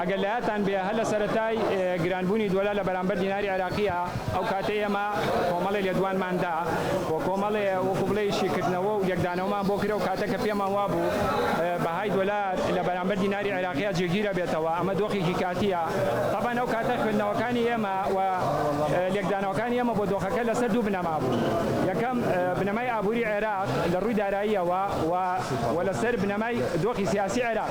ئەگەر لەیادتان بێ هەر لە سەرەتای گرانبوونی دۆلار لە بەرامبەر دیناری عێراقییا، ئەو کاتەی ئێمە کۆمەڵێ لێدوانمان دا و کۆمەڵێ وەکوو بڵێی شیکردنەوە و لێکدانەوەمان بۆ کرد، ئەو کاتە کە پێمان وا بوو بەهای دۆلار لە بەرامبەر دیناری عێراقییا جێگیر ئەبێتەوە، ئەمە دۆخێکی کاتییە. تەبعەن ئەو کاتە خوێندنەوەکانی ئێمە و لێکدانەوەکانی ئێمە بۆ دۆخەکە لە سەر دوو بنەما بوو. یەکەم، بنەمای ئابووری عێراق لە ڕووی داراییەوە و و لە سەر بنەمای دۆخی سیاسی عێراق.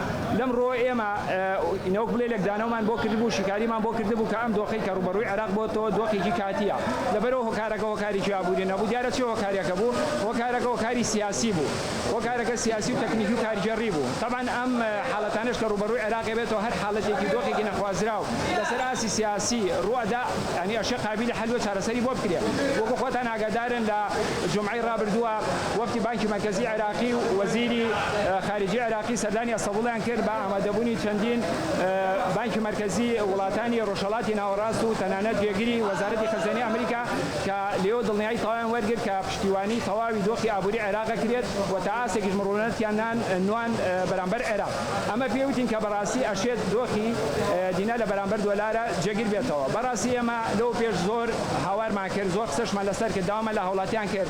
لەمڕۆوە ئێمە نەوەک بڵێ لێکدانەوەمان بۆ کردبوو، شیکاریمان بۆ کردبوو کە ئەم دۆخەی کە ڕووبەڕووی عێراق بۆتەوە دۆخێکی کاتییە. لەبەرئەوە هۆکارەکە هۆکارێکی ئابووری نەبوو، دیارە چ هۆکارێکە بوو؟ هۆکارەکە هۆکاری سیاسی بوو. هۆکارەکە سیاسی و تەکنیکی و کارگێڕی بوو. تەبعەن ئەم حاڵەتانەش کە ڕووبەڕووی عێراق بێتەوە هەر حاڵەتێکی و دۆخێکی نەخوازراو لەسەر ئاستی سیاسی ڕوو ئەدا، یانی ئەشێ قابیلی حەل و چارەسەری بۆ بکرێ. وەکو خۆتان ئاگادارن لە جومعەی ڕابردووە، وەفدی بانکی مەرکەزی عێراقی و وەزیری خارجی عێراقی سەردانی ئەستەبوڵیان کرد بە ئامادەبوونی چەندین بانکی مەرکەزی وڵاتانی ڕۆژهەڵاتی ناوەڕاست و تەنانەت جێگری وەزارەتی خەزێنەی ئەمریکا کە لێۆ دڵنیایی تەواویان وەرگرت کە پشتیوانی تەواوی دۆخی ئابووری عێراق ئەکرێت و تا ئاستێکیش مڕوونەتیان نان نوان بەرامبەر عێراق ئەمە پێی وتین کە بەڕاستی ئەشێت دۆخی دینار لە بەرامبەر دۆلارە جێگر بێتەوە بەڕاستی ئێمە لەوە پێش زۆر هاوارمان کرد زۆر قسەشمان لەسەر کرد داوامان لە هاوڵاتیان کرد